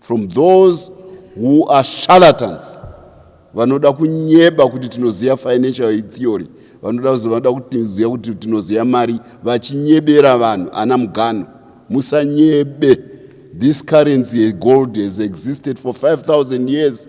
From those who are charlatans vanoda kunyeba kuti tinoziva financial theory vanoda vanoda kutiziva kuti tinoziva mari vachinyebera vanhu ana mugano musanyebe this currency gold has existed for 5000 years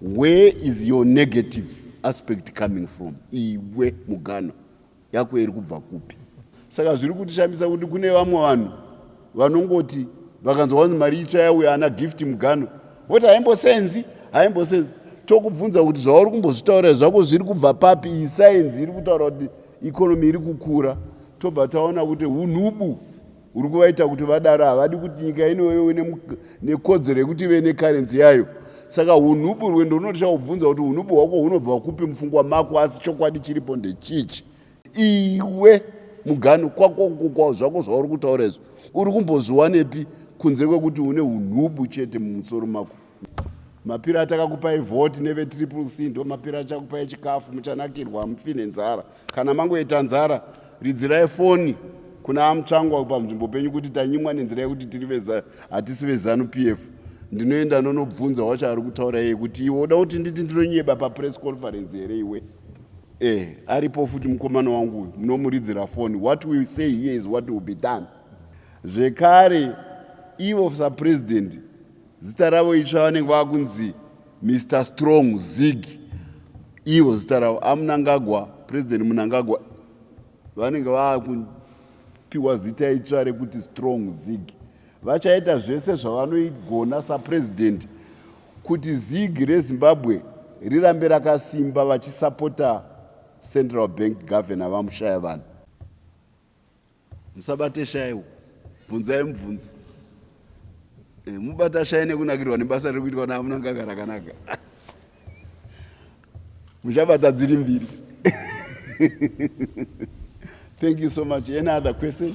Where is your negative aspect coming from? Iwe muganwa yako iri kubva kupi? Saka zviri kutishambisa kuti kune vamwe vanhu vanongoti vakanzwa vanzi mari itsva yauya ana gift muganwa voti haimbosenzi haimbosenzi tokubvunza kuti zvauri kumbozvitaura zvako zviri kubva papi iyi sainzi iri kutaura kuti ikonomi iri kukura tobva taona kuti unhubu uri kuvaita kuti vadaro havadi kuti nyika ino ive nekodzero yekuti ive nekarenzi yayo saka hunhubu rwendo runotya kubvunza kuti hunhubu hwako hunobva kupi mupfungwa mako asi chokwadi chiripo ndechichi iwe mugano kwako kukwawo zvako zvauri kutaura izvo uri kumbozviwanepi kunze kwekuti une unhubu chete mumusoro mako mapiro atakakupai vhoti nevetriple c ndo mapiro achakupai chikafu muchanakirwa hamufi nenzara kana mangoita nzara ridzirai foni kuna amutsvangwa panzvimbo penyu kuti tanyimwa nenzira yekuti tiri veza hatisi vezanu p f ndinoenda nonobvunza wacho ari kutaura iye kuti iwe uda kuti nditi ndinonyeba papress conference here iwe eh aripo futi mukomana wangu uyu munomuridzira foni what will say here is what will be done zvekare ivo sapresident Zita ravo itsva vanenge vava kunzi Mr Strong Zig ivo zita ravo aMnangagwa President Mnangagwa vanenge vava kupiwa zita itsva rekuti Strong Zig vachaita zvese zvavanoigona saPresident kuti Zig reZimbabwe rirambe rakasimba vachisapota Central Bank Governor vaMushaya vanhu. musabate shayi uku bvunzai mubvunzo eh, mubata shayi nekunakirwa nebasa riri kuitwa namunanganga rakanaka muchabata dziri mbiri thank you so much any other question